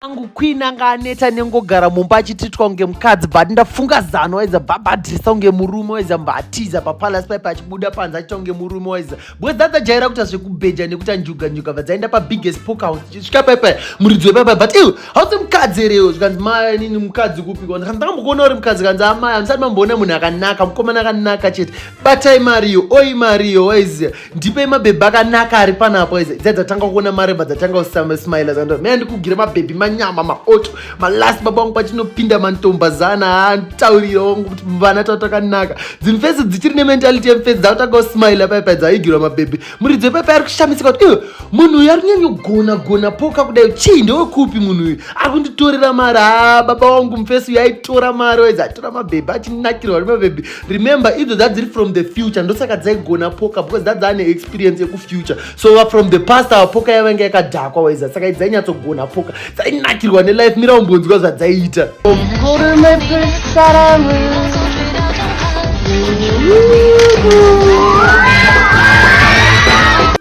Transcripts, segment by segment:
angu queen anga aneta nengogara mumba achititwa kunge mukadzi but ndafunga zano waiza babhadhirisa kunge murume waiza mbatiza papalace paipa achibuda panze achiita kunge murume waiza because dzadzajaira kuita zvekubheja nekuti anjuga njuga vadzaenda pabiggest poke house chisvika paipa muridzi wepaipa but iwe hausi mukadzi here iwe zvikanzi maya nini mukadzi kupi kwanzi kanzi ndakambokuona uri mukadzi kanzi amaya ah, musati mamboona munhu akanaka mukomana akanaka chete batai mariyo oi mariyo waiziya ndipei mabhebhi akanaka ari panapo izi dzai dzatanga kuona mareba dzatanga kusamaismaila zando mea ndikugire mabhebhi manyama maoto malast baba wangu pachinopinda mantomba zana aataurira wangu kuti vana tava takanaka dzimfesi dzichiri nementality yemfesi dzakutanga kusmaila paipa dzaigirwa mabhebhi muridzo paipa ari kushamisika kuti iwe munhu uyu ari kunyanyogona gona poka kudai chii ndewekupi munhu uyu ari kunditorera mari ha baba wangu mfesi uyu aitora mari waizi atora mabhebhi achinakirwa nemabhebhi remember idzo dzadziri from the future ndosaka dzaigona poka because dzadzane experience yekufuture so va from the past ava poka yavange yakadhakwa waiza saka idzainyatsogonha poka dzainakirwa nelife mira umbonzwa zvadzaiita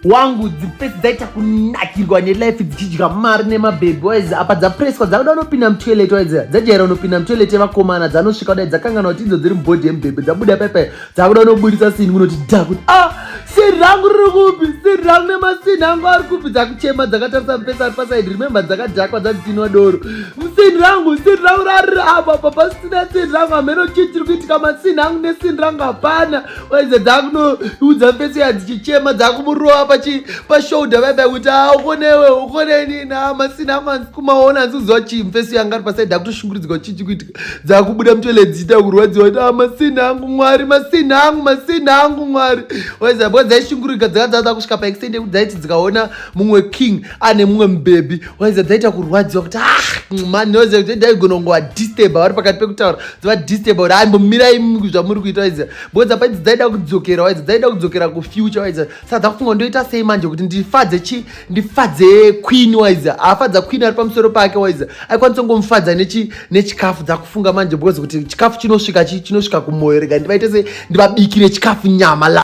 wangu dzipesi dzaita kunakirwa nelife dzichidya mari nemabhebhi waizi apa dzapreswa dzakuda unopinda mutoilet waizi dzajaira unopinda mutoilet yevakomana dzanosvika kudai dzakangana kuti idzo dziri mubhodhi yemubhebhi dzabuda paipai dzakuda unoburitsa sini kunoti da kuti a ah, siri rangu riri kupi siri rangu nemasini angu ari kupi dzakuchema dzakatarisa mupesa ari pasaidi remembe dzakadhakwa dzadzinwa doro sini rangu sini rangu rariri apa apa pasina sini rangu hameno chii chiri kuitika masini angu nesini rangu hapana vaiza dzakunoudza fesi yadzichichema dzakumurova pachi pashoulder vaiba kuti a ah, ukonewe ukoneni nama sina manzi kumaona hanzi kuziva chii fesi yanga ari pasaidi akutoshunguridzwa chii chikuitika dzakubuda mutole dziita kurwadziwa kuti a ah, masina angu mwari masina angu masina angu mwari vaiza bwa dzaishungurika dzakadzaa dzakusvika paextende kuti dzaiti dzikaona mumwe king ane mumwe mubhebhi waiza dzaita kurwadziwa kuti ah mani waiza kuti daigona kunge wadisturba vari pakati pekutaura dzavadisturba kuti aimbomirai zvamuri kuita waiza because dzapa idzi dzaida kudzokera waiza dzaida kudzokera kufuture waiza saka dzakufunga ndoita sei manje kuti ndifadze chi ndifadze queen waiza afadza queen ari pamusoro pake waiza aikwanisa kungomufadza nechikafu dzakufunga manje because kuti chikafu chinosvika chinosvika kumwoyo rega ndivaite se ndivabikire chikafu nyama